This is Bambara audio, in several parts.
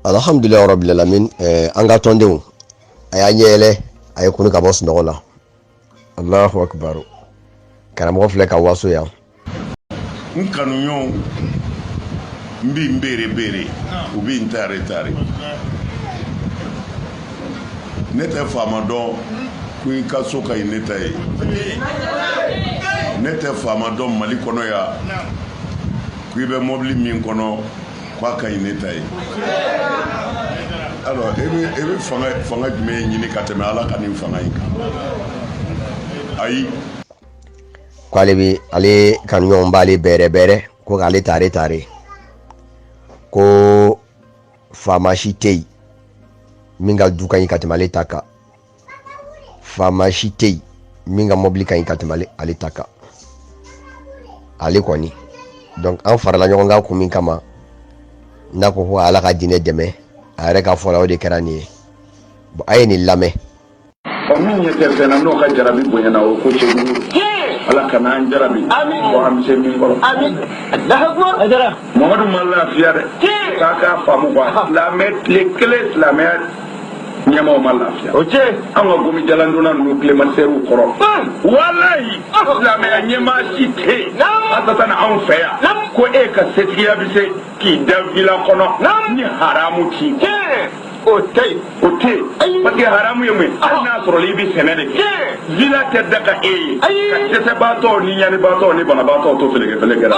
alhamdulilayi rabil alamin ɛɛ eh, an ka tɔndenw a y'a ɲɛ yɛlɛ a ye kunun ka bɔ sunɔgɔ la alahu akibar karamɔgɔ filɛ ka waso yan n kanuɲɔgɔnw bɛ n bɛrɛ bɛrɛ u bɛ n tare tare ne tɛ faama dɔn ko i ka so ka ɲi ne ta ye ne tɛ faama dɔn mali kɔnɔ yan ko i bɛ mɔbili min kɔnɔ k'a ka ɲi ne ta ye alors e bɛ e bɛ fanga fanga jumɛn ɲini ka tɛmɛ Ala ka nin fanga in kan ayi ko ale bɛ ale kanuɲɔgɔn b'ale bɛrɛ bɛrɛ ko k'ale tare tare ko faama si tɛ yen min ka du ka ɲi ka tɛmɛ ale ta kan faama si tɛ yen min ka mɔbili ka ɲi ka tɛmɛ ale ta kan ale kɔni donc an farala ɲɔgɔn kan kun min kama n'a ko ko ala ka diinɛ dɛmɛ a yɛrɛ ka fɔ la o de kɛra nin ye bon a ye nin lamɛn ɔ min ɲɛ tɛ fɛn na n'o ka jarabi bonyana o ko cɛ ala kana an jarabi ko an tɛ se min kɔrɔ mamadu ma lafiya dɛ k'a k'a faamu quoi silamɛ tile kelen silamɛya ɲɛmaaw ma lafiya o cɛ an ka gomi jalandonna ninnu kilimatizɛriw kɔrɔ walayi silamɛya ɲɛmaa si tɛ yen a tata na anw fɛ yan ko e ka setigiya bɛ se k'i da vila kɔnɔ ni haramu tɛ o tɛ yen o tɛ yen parce que haramu ye mun ye hali n'a sɔrɔ i bɛ sɛnɛ de kɛ vila tɛ daga e ye ka dɛsɛbaatɔ ni ɲanibaatɔ ni banabaatɔ to fɛlɛkɛfɛlɛkɛ la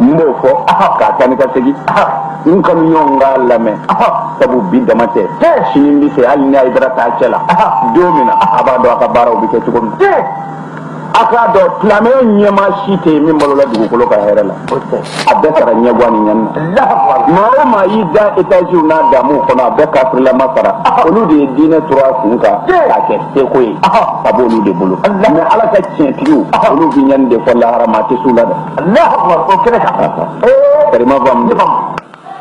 n b'o fɔ ka taa ni ka segin n kanuɲɔgɔn k'a lamɛn sabu bi dama tɛ sini bɛ se hali ni ayidara t'a cɛ la don min na a b'a dɔn a ka baaraw bɛ kɛ cogo min na a k'a dɔn silamɛya ɲɛmaa si tɛ yen min balola dugukolo ka hɛrɛ la a bɛɛ sara ɲɛgan ni ɲani na maa o maa y'i da etaziw n'a daamuw kɔnɔ a bɛɛ kafirilama sara olu de ye diinɛ turu a kun kan k'a kɛ seko ye a b'olu de bolo mais ala ka tiɲɛtigiw olu bɛ ɲani de fo lahara maa tɛ s'u la dɛ o kɛnɛ kan karima faamu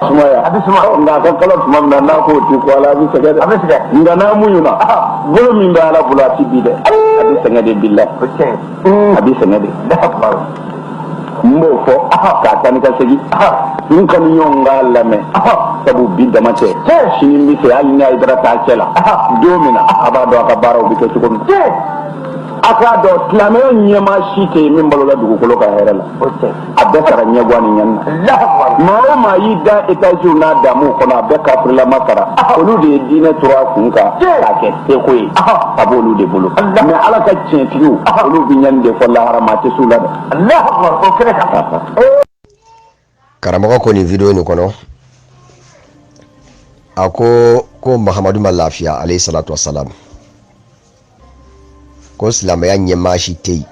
sumaya a bɛ suma nka a ka kalan tuma min na n'a k'o ti ko ala a bɛ sɛgɛn dɛ a bɛ sɛgɛn nka n'a muɲuna bolo min bɛ ala bolo a tɛ bin dɛ a bɛ sɛgɛn de bi la a bɛ sɛgɛn de n b'o fɔ ka taa ni ka segin n kanuɲɔgɔn k'a lamɛn sabu bi dama tɛ sini bɛ se hali ni ayidara t'a cɛ la don min na a b'a dɔn a ka baaraw bɛ kɛ cogo min a k'a dɔn silamɛya ɲɛmaa si tɛ yen min balola dugukolo ka hɛrɛ la a bɛɛ sara ɲɛgan ni ɲani na maa o maa y'i da etaziw n'a damu kɔnɔ a bɛɛ kafirilama sara olu de ye diinɛ turu a kun kan k'a kɛ seko ye a b'olu de bolo mais ala ka tiɲɛtigiw olu bɛ ɲani de fo lahara maa tɛ s'u la dɛ karamɔgɔ ko nin video nin kɔnɔ a ko ko mahamadu ma lafiya alayhi salatu wasalam ko silamɛya ɲɛmaa si tɛ yen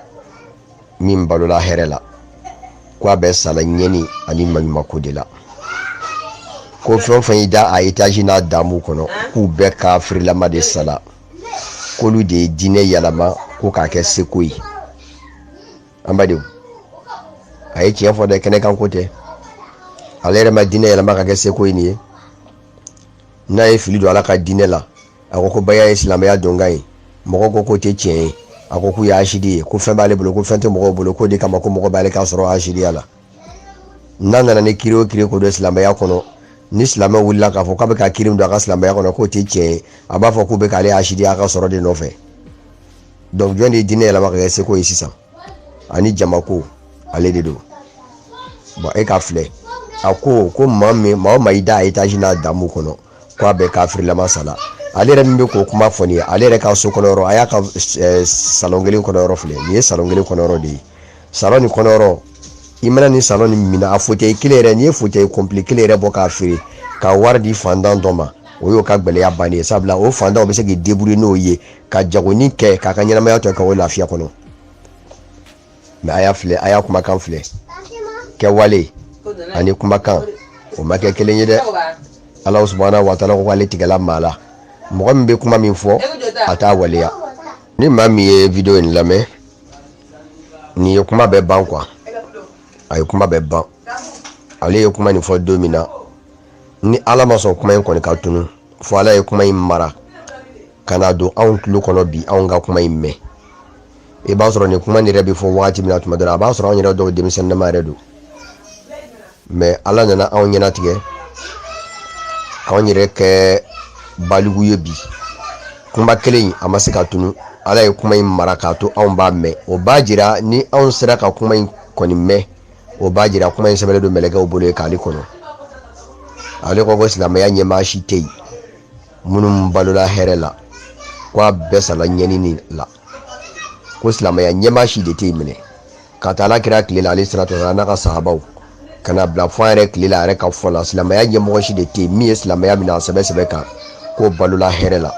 min balola hɛrɛ la ko a bɛɛ sala ɲɛni ani maɲumako de la ko fɛn o fɛn y'i da a etazi n'a damu kɔnɔ k'u bɛɛ kafirilama de sala k'olu de ye diinɛ yɛlɛma ko k'a kɛ seko ye an badenw a ye tiɲɛ fɔ dɛ kɛnɛ kan ko tɛ ale yɛrɛ ma diinɛ yɛlɛma ka kɛ seko ye nin ye n'a ye fili don ala ka diinɛ la a ko ko baya ye silamɛya donkan ye mɔgɔ ko k'o tɛ tiɲɛ ye a ko k'u ye asidi ye ko fɛn b'ale bolo ko fɛn tɛ mɔgɔw bolo k'o de kama ko mɔgɔ b'ale ka sɔrɔ asidiya la n'a nana ni kiri o kiri ko don silamɛya kɔnɔ ni silamɛ wulila k'a fɔ k'a bɛ ka kiri don a ka silamɛya kɔnɔ k'o tɛ tiɲɛ ye a b'a fɔ k'u bɛ k'ale asidiya a ka sɔrɔ de nɔfɛ donc jɔn de ye diinɛ yɛlɛma ka kɛ seko ye sisan ani jamako ale de don bon e ka filɛ a ko ko maa min maa o maa y'i da etazi n'a damu kɔnɔ k'a bɛɛ kafirilama sala ale yɛrɛ min bɛ k'o kuma fɔ nin ye ale yɛrɛ ka so kɔnɔ yɔrɔ a y'a ka eh, salon kelen kɔnɔ yɔrɔ filɛ nin ye salon kelen kɔnɔ yɔrɔ de ye salon nin kɔnɔ yɔrɔ i mana nin salon nin minɛ a fauteuil kelen yɛrɛ n'i ye fauteuil complet kelen yɛrɛ bɔ k'a feere ka wari di fantan dɔ ma o y'o ka gɛlɛya bannen ye sabula o fantan o bɛ se k'i débrouiller n'o ye ka jagoni kɛ k'a ka ɲɛnamaya tɔ kɛ o lafiya kɔnɔ mais a y'a filɛ a y'a kumakan filɛ kɛwale ani kumakan o ma kɛ kelen ye dɛ ala subhanahu wa ta'ala ko k'ale tigɛla maa la mɔgɔ min bɛ kuma min fɔ a t'a waleya ni maa min ye video in lamɛn nin ye kuma bɛɛ ban quoi a ye kuma bɛɛ ban ale ye kuma nin fɔ don min na ni ala ma sɔn kuma in kɔni ka tunu fo ala ye kuma in mara ka n'a don anw tulo kɔnɔ bi anw ka kuma in mɛn i b'a sɔrɔ nin kuma nin yɛrɛ bɛ fɔ wagati min na tuma dɔ la a b'a sɔrɔ anw yɛrɛ dɔw denmisɛnninma yɛrɛ don mais ala nana anw ɲɛnatigɛ k'anw yɛrɛ kɛ baliku ye bi kuma kelen in a ma se ka tunu ala ye kuma in mara k'a to anw b'a mɛn o b'a jira ni anw sera ka kuma in kɔni mɛn o b'a jira kuma in sɛbɛnlen don mɛlɛkɛw bolo yen k'ale kɔnɔ ale ko ko silamɛya ɲɛmaa si tɛ yen minnu balola hɛrɛ la ko a bɛɛ sala ɲɛnini la ko silamɛya ɲɛmaa si de tɛ yen minɛ ka taa ala kira tile la alayhi salatu n'a ka sahabaw ka na bila fo an yɛrɛ tile la a yɛrɛ ka fɔ la silamɛya ɲɛmɔgɔ si de tɛ yen min ye silamɛya minɛ a sɛbɛ sɛbɛ kan k'o balola hɛrɛ la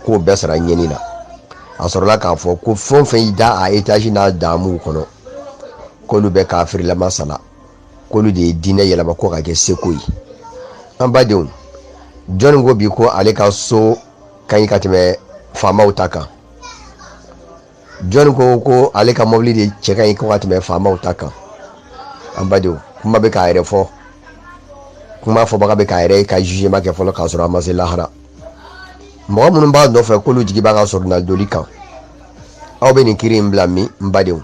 k'o bɛɛ sara ɲɛni na a sɔrɔla k'a fɔ ko fɛn o fɛn y'i da a etazi n'a damuw kɔnɔ k'olu bɛɛ kafirilama sala k'olu de ye diinɛ yɛlɛma ko ka kɛ seko ye an badenw jɔnni ko bi ko ale ka so ka ɲi ka tɛmɛ faamaw ta kan jɔnni ko ko ale ka mɔbili de cɛ ka ɲi ko ka tɛmɛ faamaw ta kan an badenw kuma bɛ k'a yɛrɛ fɔ kuma fɔbaga bɛ k'a yɛrɛ ka jugement kɛ fɔlɔ k'a sɔrɔ a ma se lahara mɔgɔ minnu b'a nɔfɛ k'olu jigi b'a ka soronadoli kan aw bɛ nin kiri in bila min n badenw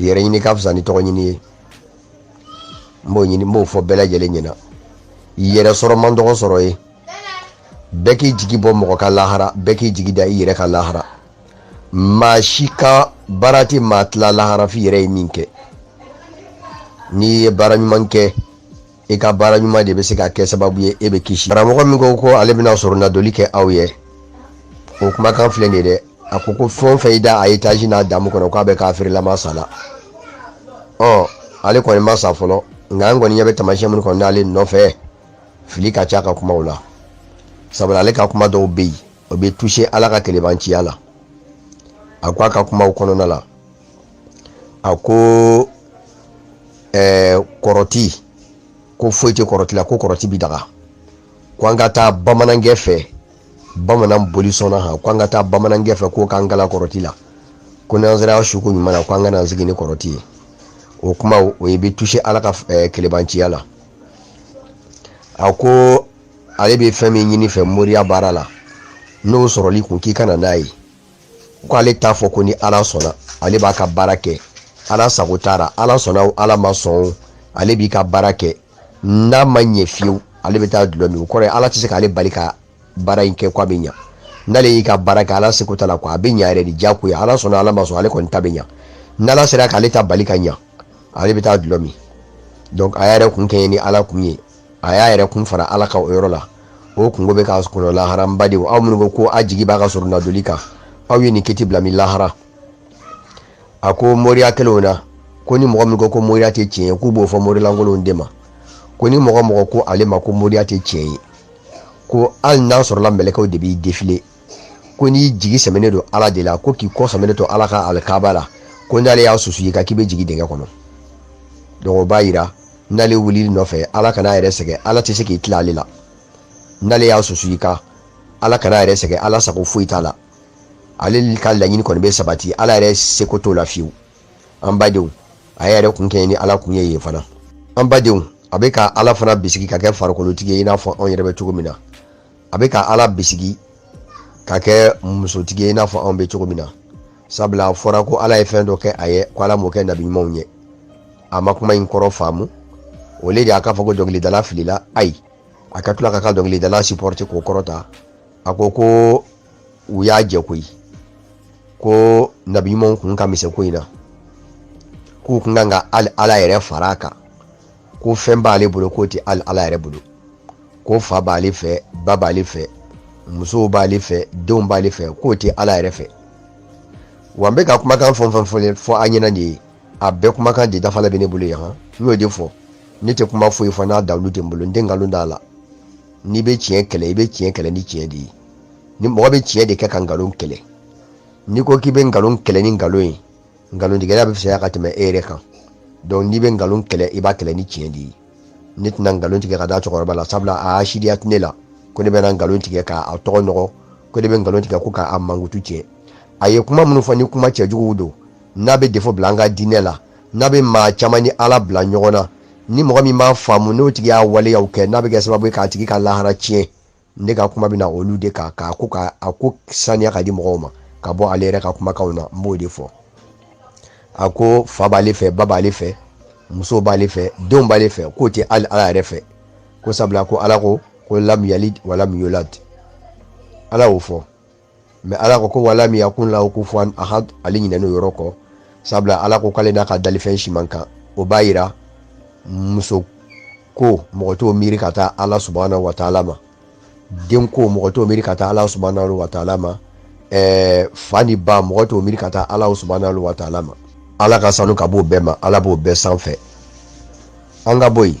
yɛrɛ ɲini ka fisa ni tɔgɔ ɲini ye n b'o fɔ bɛɛ lajɛlen ɲɛna yɛrɛ sɔrɔ man dɔgɔ sɔrɔ ye bɛɛ k'i jigi bɔ mɔgɔ ka lahara bɛɛ k'i jigi da i yɛrɛ ka lahara maa si ka baara tɛ maa tila lahara f'i yɛrɛ ye min kɛ n'i ye baara ɲuman kɛ i ka baara ɲuman de bɛ se ka kɛ sababu ye e bɛ kisi karamɔgɔ min ko ko ale bɛna soronadoli kɛ aw ye o kumakan filɛ nin ye dɛ a ko ko fɛn o fɛn y'i da a etazi n'a damu kɔnɔ k'a bɛɛ kafirilama sala ɔ ale kɔni ma sa fɔlɔ nka an kɔni ɲɛ bɛ tamasiyɛn minnu kɔni n'ale nɔfɛ fili ka ca a ka kumaw la sabula ale ka kuma dɔw bɛ yen o bɛ toucher ala ka kelebanciya la a ko a ka kumaw kɔnɔna la a ko ɛɛ kɔrɔti ko foyi tɛ kɔrɔti la ko kɔrɔti bi daga ko an ka taa bamanankɛ fɛ bamanan bolisɔnna ha ko an ka taa bamanankɛ fɛ k'o k'an kalan kɔrɔti la ko n'an sera suko ɲuman na ko an ka n'an sigi ni kɔrɔti ye o kuma o ye bɛ toucher ala ka ɛɛ kelebanciya la a ko ale bɛ fɛn min ɲini i fɛ moriya baara la n'o sɔrɔl'i kun k'i ka na n'a ye ko ale t'a fɔ ko ni ala sɔnna ale b'a ka baara kɛ ala sago t'a la ala sɔnna o ala ma sɔn o ale b'i ka baara kɛ n'a ma ɲɛ fiyewu ale bɛ taa dulɔ min o kɔrɔ ye ala tɛ se k'ale bali ka baara in kɛ ko a bɛ ɲa n'ale y'i ka baara kɛ ala seko t'a la ko a bɛ ɲa yɛrɛ de diyagoya ala sɔnna ala ma sɔn ale kɔni ta bɛ ɲa n'ala sera k'ale ta bali ka ɲa ale bɛ taa dulɔ min donc a y'a yɛrɛ kun kɛɲɛ ni ala kun ye a y'a yɛrɛ kun fara ala kan o yɔrɔ la o kunko bɛ k'a kɔnɔ lahara n badenw aw minnu ko ko a jigi b'a ka soronadoli kan aw ye nin kiti bila min lahara a ko moriya kɛlenw na ko ni mɔgɔ min ko ko moriya tɛ tiɲɛ ye k'u b'o fɔ morilankolonw de ma ko ni mɔgɔ o mɔgɔ ko ale ma ko moriya tɛ tiɲɛ ye ko hali n'a sɔrɔla mɛlɛkɛw de b'i défiler ko n'i jigi sɛmɛnen don ala de la ko k'i kɔ sɛmɛnen to ala ka alikaba la ko n'ale y'a susu i kan k'i bɛ jigin dingɛ kɔnɔ donc o b'a yira n'ale wulil'i nɔfɛ ala kana yɛrɛ sɛgɛn ala tɛ se k'i tila ale la n'ale y'a susu i kan ala kana yɛrɛ sɛgɛn ala sago foyi t'a la ale ka laɲini kɔni bɛ sabati ala yɛrɛ seko t'o la fiyewu an badenw a yɛrɛ kun kɛɲɛ ni ala kun ye yen fana an badenw a bɛ ka ala fana bisigi ka kɛ farikolotigi ye i n'a fɔ anw yɛrɛ bɛ cogo min na a bɛ ka ala bisigi ka kɛ musotigi ye i n'a fɔ anw bɛ cogo min na sabula a fɔra ko ala ye fɛn dɔ kɛ a ye ko ala m'o kɛ nabi ɲumanw ye a ma kuma in kɔrɔ faamu o le de a k'a fɔ ko dɔnkilidala filila ayi a ka tila ka ka dɔnkilidala supporter k'o kɔrɔta a ko ko u y'a jɛ koyi ko nabi ɲumanw kun ka misɛn ko in na k'u kun kan ka ala yɛrɛ fara a kan ko fɛn b'ale bolo k'o tɛ hali ala yɛrɛ bolo ko fa b'ale fɛ ba b'ale fɛ musow b'ale fɛ denw b'ale fɛ k'o tɛ ala yɛrɛ fɛ wa n bɛ ka kumakan fɛn o fɛn fɔlen fɔ an ɲɛna nin ye a bɛɛ kumakan de dafalen bɛ ne bolo yan n y'o de fɔ ne tɛ kuma foyi fɔ n'a dalilu tɛ n bolo n tɛ nkalon d'a la n'i bɛ tiɲɛ kɛlɛ i bɛ tiɲɛ kɛlɛ ni tiɲɛ de ye ni mɔgɔ bɛ tiɲɛ de kɛ ka nkalon kɛlɛ n'i ko k'i bɛ nkalon kɛlɛ ni nkalon ye nkalontigɛla bɛ fisaya ka tɛmɛ e yɛrɛ kan donc n'i bɛ nkalon kɛlɛ i b'a kɛlɛ ni tiɲɛ de ye ne tɛna nkalon tigɛ ka da cɛkɔrɔba la sabula a hasidiya tɛ ne la ko ne bɛna nkalon tigɛ k'a tɔgɔ nɔgɔ ko ne bɛ nkalon tigɛ ko k'a mankutu tiɲɛ a ye kuma minnu fɔ ni kuma cɛjuguw don n'a bɛ defo bila an ka diinɛ la n'a bɛ maa caman ni ala bila ɲɔgɔn na ni mɔgɔ min b'a faamu n'o tigi y'a waleyaw kɛ n'a bɛ kɛ sababu ye k'a tigi ka lahara tiɲɛ ne ka kuma bɛna olu de kan k'a ko ka a ko saniya ka di mɔgɔw ma ka bɔ ale yɛrɛ ka kumakanw na n b'o de fɔ a ko fa b'ale fɛ ba b'ale fɛ muso b'ale fɛ denw b'ale fɛ k'o tɛ hali ala yɛrɛ fɛ ko sabula ko ala ko ko lam yalid wa lam yulad ala y'o fɔ mais ala ko ko wa lam yakun lahu kufuwan ahad ale ɲinɛnen o yɔrɔ kɔ sabula ala ko k'ale n'a ka dalifɛn si man kan o b'a yira muso ko mɔgɔ t'o miiri ka taa ala subahana wa taala ma den ko mɔgɔ t'o miiri ka taa ala subahana wa taala ma ɛɛ fa ni ba mɔgɔ t'o miiri ka taa ala subahana wa taala ma ala ka sanu ka b'o bɛɛ ma ala b'o bɛɛ sanfɛ an ka bɔ yen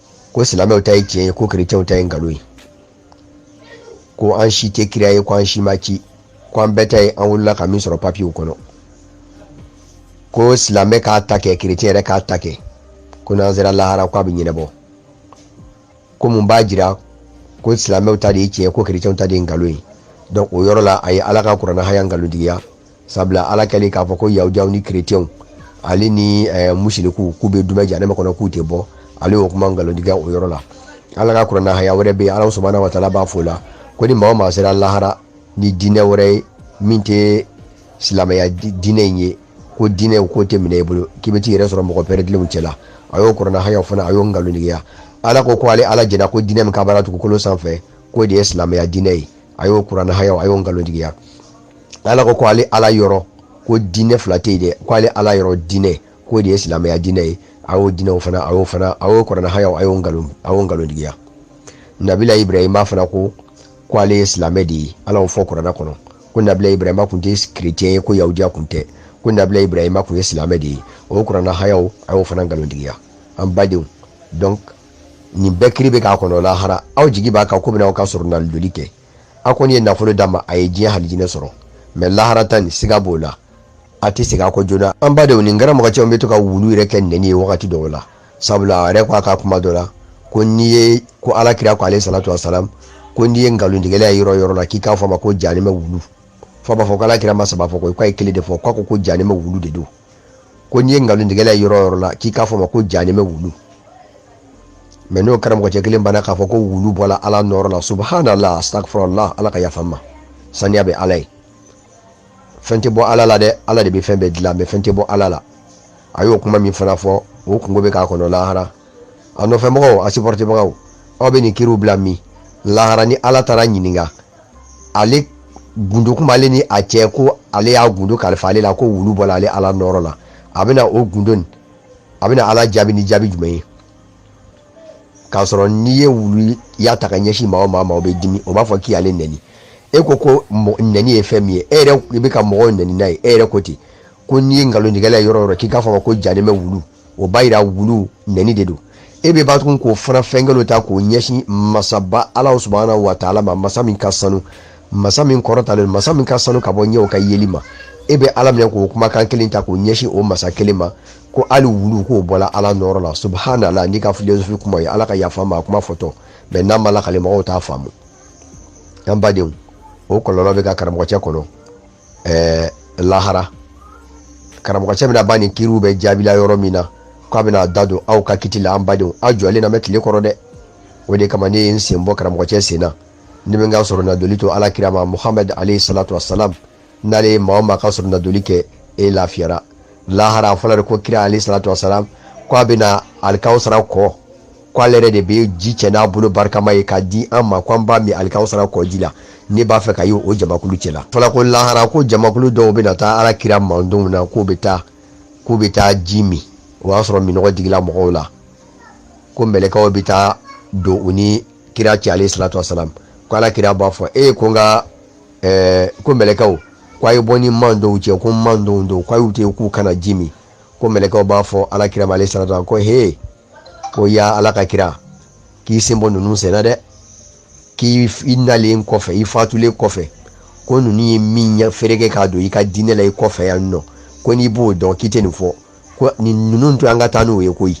ko silamɛw ta ye tiɲɛ ye ko kerecɛnw ta ye nkalon ye ko an si tɛ kira ye ko an si ma ci ko an bɛɛ ta ye an wolola ka min sɔrɔ papiyew kɔnɔ ko silamɛ k'a ta kɛ kerecɛn yɛrɛ k'a ta kɛ ko n'an sera lahara ko a bɛ ɲɛnabɔ ko mun b'a jira ko silamɛw ta de ye tiɲɛ ko kerecɛnw ta de ye nkalon ye donc o yɔrɔ la a ye ala ka kuranɛ haya nkalontigiya sabula ala kɛlen k'a fɔ ko yahudiyaw ni kerecɛnw ale ni eh, musiriku k'u bɛ dumɛ jahanama kɔnɔ k'u tɛ bɔ ale y'o kuma nkalontigiya o yɔrɔ la ala ka kuranɛ haya wɛrɛ bɛ yen ala subahana wa taala b'a fɔ o la ko ni maa o maa sera lahara ni diinɛ wɛrɛ ye min tɛ silamɛya diinɛ in ye ko diinɛ k'o tɛ minɛ i bolo k'i bɛ t'i yɛrɛ sɔrɔ mɔgɔ pɛrɛdilenw cɛla a y'o kuranɛ haya fana a y'o nkalontigiya ala ko ko ale ala jɛnna ko diinɛ min ka baara dugukolo sanfɛ k'o de ye silamɛya diinɛ ye a y'o kuranɛ haya a y'o nkalontigiya ala ko ko ale ala yɔrɔ ko diinɛ fila tɛ yen dɛ ko ale ala yɔrɔ diinɛ k'o de ye silamɛya diinɛ ye a y'o diinɛw fana a y'o fana a y'o kuranɛ hayaw a y'o nkalon a y'o nkalontigiya nabila ibrahima fana ko ko ale ye silamɛ de ye ala y'o fɔ kuranɛ kɔnɔ ko nabila ibrahima kun tɛ kirecɛn ye ko yahudiya kun tɛ ko nabila ibrahima kun ye silamɛ de ye o ye kuranɛ hayaw a y'o fana nkalontigiya an badenw donc nin bɛɛ kiri bɛ k'a kɔnɔ lahara aw jigi b'a kan k'o bɛna aw ka soronadoli kɛ a kɔni ye nafolo d'a ma a ye diɲɛ halijinɛ sɔrɔ mɛ lahara ta nin siga b'o la a tɛ segin a kɔ joona an badenw nin karamɔgɔcɛ o bɛ to ka wulu yɛrɛ kɛ nɛni ye wagati dɔw la sabula a yɛrɛ ko a ka kuma dɔ la ko n'i ye ko ala kira ko alayhi salatu wasalam ko n'i ye nkalontigɛla ye yɔrɔ yɔrɔ la k'i k'a fɔ a ma ko jahanamɛ wulu fo a b'a fɔ ko ala kira ma saba fɔ ko k'a ye kelen de fɔ k'a ko ko jahanamɛ wulu de don ko n'i ye nkalontigɛla ye yɔrɔ yɔrɔ la k'i k'a fɔ a ma ko jahanamɛ wulu mɛ n'o karamɔgɔcɛ kelen banna k'a fɔ ko wulu bɔla ala nɔɔrɔ la subhanallah astagfirullah ala ka yafa n ma saniya bɛ ala ye fɛn tɛ bɔ ala la dɛ ala de bɛ fɛn bɛɛ dilan mɛ fɛn tɛ bɔ ala la a y'o kuma min fana fɔ o kunko bɛ k'a kɔnɔ lahara a nɔfɛmɔgɔw a sipɔrɔtibagaw aw bɛ nin kiriw bila min lahara ni ala taara a ɲininka ale gundo kun b'ale ni a cɛ ko ale y'a gundo kalifa ale la ko wulu bɔla ale ala nɔɔrɔ la a bɛna o gundo nin a bɛna ala jaabi ni jaabi jumɛn ye k'a sɔrɔ n'i ye wuluya ta k'a ɲɛsin maa o maa ma o bɛ dimi o b'a fɔ k'i y'ale nɛni e ko ko nɛni ye fɛn min ye e yɛrɛ i bɛ ka mɔgɔw nɛni n'a ye e yɛrɛ ko ten ko n'i ye nkalontigɛla ye yɔrɔ o yɔrɔ k'i k'a fɔ ko jahanamɛ wulu o b'a yira wulu nɛni de don e bɛ ban tugun k'o fana fɛnkɛlo ta k'o ɲɛsin masaba ala subhanahu wa taala ma masa min ka sanu masa min kɔrɔtalen masa min ka sanu ka bɔ ɲɛw ka yeli ma e bɛ ala minɛ k'o kumakan kelen ta k'o ɲɛsin o masa kelen ma ko hali wulu k'o bɔla ala nɔɔrɔ la subhanallah n'i ka filosofi kuma ye ala ka yafa n ma a kuma fɔtɔ mɛ n'a ma lakale mɔgɔw t'a faamu an badenw o kɔlɔlɔ bɛ ka karamɔgɔcɛ kɔnɔ ɛɛ lahara karamɔgɔcɛ bɛna ban nin kiriw bɛɛ jaabi la yɔrɔ min na k'a bɛna da don aw ka kiti la an badenw aw jɔlen na mɛɛn tile kɔrɔ dɛ o de kama ne ye n sen bɔ karamɔgɔcɛ sen na ne bɛ n ka soronadoli to ala kira ma muhamadu alayhi salatu wasalam n'ale ye maa o maa ka soronadoli kɛ e lafiyara lahara fɔlɔ de ko kira alayhi salatu wasalam ko a bɛna alikawusara kɔ k'ale yɛrɛ de bɛ ji cɛ n'a bolo barikama ye k'a di an ma k'an b'a min alikawusara kɔji la ne b'a fɛ ka ye o jamakulu cɛla fɔla ko lahara ko jamakulu dɔw bɛna taa ala kira mandenw na k'u bɛ taa k'u bɛ taa ji min o y'a sɔrɔ minnɔgɔ digila mɔgɔw la ko mɛlɛkaw bɛ taa don u ni kira cɛ alayhi salatu wasalam ko ala kira b'a fɔ e ko n ka eh, ko mɛlɛkaw ko a ye bɔ n ni mantɔnw cɛ ko mantɔnw don k'a y'u to k'u ka na ji min ko mɛlɛkaw b'a fɔ ala kira ma alayhi salatu wasalam ko he ko ya ala ka kira k'i sen bɔ ninnu senna dɛ k'i i nalen kɔfɛ i fatulen kɔfɛ ko ninnu ye min ɲɛ fereke k'a don i ka diinɛ la i kɔfɛ yan nɔ ko n'i b'o dɔn k'i tɛ nin fɔ ko nin ninnu to an ka taa n'u ye koyi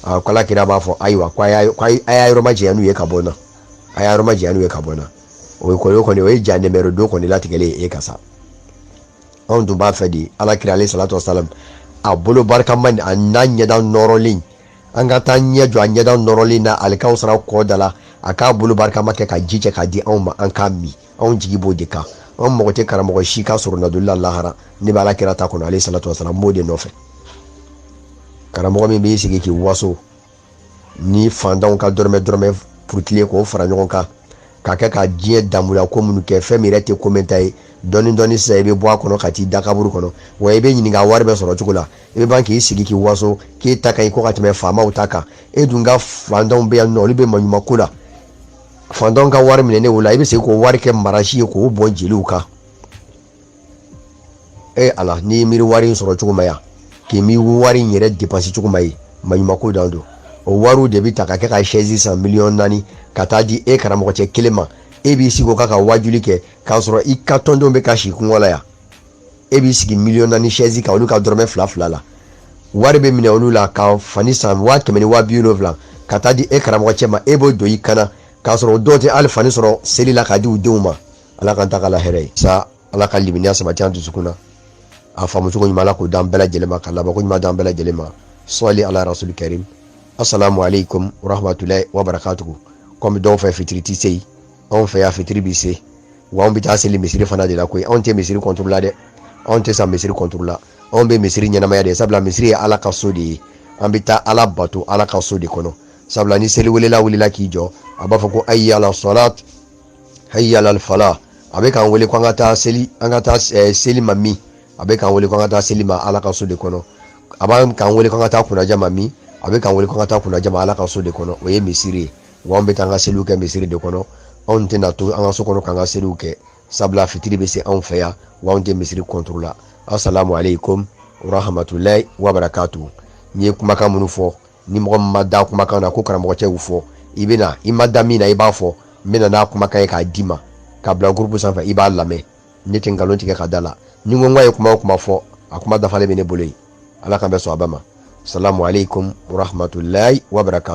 a ko ala kira b'a fɔ ayiwa ko a y'a yɔrɔ ma janya n'u ye ka bɔ n na a y'a yɔrɔ ma janya n'u ye ka bɔ n na o ye kɔni o ye jahanama rɔ don kɔni latigɛlen ye e kan sa anw tun b'a fɛ de ala kira alayhi salatu wasalam a bolo barikama an'a ɲɛda nɔrɔlen an ka taa ɲɛ jɔ a ɲɛda nɔrɔlen na alikawusara kɔ da la a k'a bolo barikama kɛ ka ji cɛ k'a di anw ma an k'a min anw jigi b'o de kan an mago tɛ karamɔgɔ si ka soronadonli la lahara ne bɛ ala kira ta kɔnɔ alayhi salatu wasalam n b'o de nɔfɛ karamɔgɔ min b'i sigi k'i waso ni fantanw ka dɔrɔmɛ dɔrɔmɛ purutilen k'o fara ɲɔgɔn kan ka kɛ ka diɲɛ damuya ko minnu kɛ fɛn min yɛrɛ tɛ ko mɛɛnta ye dɔɔni dɔɔni sisan i bɛ bɔ a kɔnɔ ka t'i da kaburu kɔnɔ wa i bɛ ɲininka wari bɛɛ sɔrɔ cogo la i bɛ ban k'i sigi k'i waso k'e ta ka ɲi ko ka tɛmɛ faamaw ta kan e dun ka fantanw bɛ yan nɔ olu bɛ maɲumanko la fantanw ka wari minɛnen o la i bɛ se k'o wari kɛ marasi ye k'o bɔn jeliw kan e ala n'i ye miiri wari in sɔrɔ cogo ma yan k'i mi wari in yɛrɛ depansi cogo ma ye maɲumako dan don o wariw de bɛ ta ka kɛ ka sɛzi san miliyɔn naani ka taa di e karamɔgɔ cɛ kelen ma e b'i sigi o kan ka waajuli kɛ k'a sɔrɔ i ka tɔndenw bɛ ka si kɔngɔ la yan e b'i sigi miliyɔn naani sɛzi kan olu ka dɔrɔmɛ fila fila la wari bɛ minɛ olu la ka fani san waa kɛmɛ ni waa bi wolonwula ka taa di e karamɔgɔ cɛ ma e b'o don i kan na k'a sɔrɔ o dɔw tɛ hali fani sɔrɔ seli la k'a di u denw ma ala k'an ta ka la hɛrɛ ye sa ala ka limaniya sabati an dusukun na a faamu cogo ɲuman ala k'o d'an bɛɛ lajɛlen ma ka labanko ɲuman d'an bɛɛ lajɛlen ma salli ala rasuli karim assalamu alaikum warahmatulahi wabarakatuhu kɔmi dɔw fɛ fitiri tɛ se yen anw fɛ yan fitiri bɛ se wa anw bɛ taa seli misiri fana de la koyi anw tɛ misiri kɔntoro la dɛ anw tɛ sa misiri kɔntoro la anw bɛ misiri ɲɛnamaya de sabula misiri ye ala ka so de ye an bɛ taa ala bato ala ka so de kɔnɔ sabula ni seliwelela wulila k'i jɔ a b'a fɔ ko hayya ala salat hayya lal fala a bɛ k'an wele ko an ka taa seli an ka taa eh, seli ma min a bɛ k'an wele ko an ka taa seli ma ala ka so de kɔnɔ a bɛ k'an wele ko an ka taa kunnaja ma min a bɛ k'an wele ko an ka taa kunnaja ma ala ka so de kɔnɔ o ye misiri ye wa an bɛ taa an ka seliw kɛ misiri de kɔnɔ anw tɛna to an ka so kɔnɔ k'an ka seliw kɛ sabula fitiri bɛ se anw fɛ yan wa anw tɛ misiri kɔntoro la asalamu aleykum warahamatulayi wabarakatu n ye kumakan minnu fɔ ni mɔgɔ ma da kumakan na ko karamɔgɔ cɛ y'u fɔ i bɛ na i ma da min na i b'a fɔ n bɛ na n'a kumakan ye k'a d'i ma ka bila gurupu sanfɛ i b'a lamɛn ne tɛ nkalon tigɛ k'a d'a la ni n ko k'a ye kuma o kuma fɔ a kuma dafalen bɛ ne bolo yen ala k'an bɛɛ sɔn a bɛɛ ma salamu aleykum wa rahmatulahi wa barakatu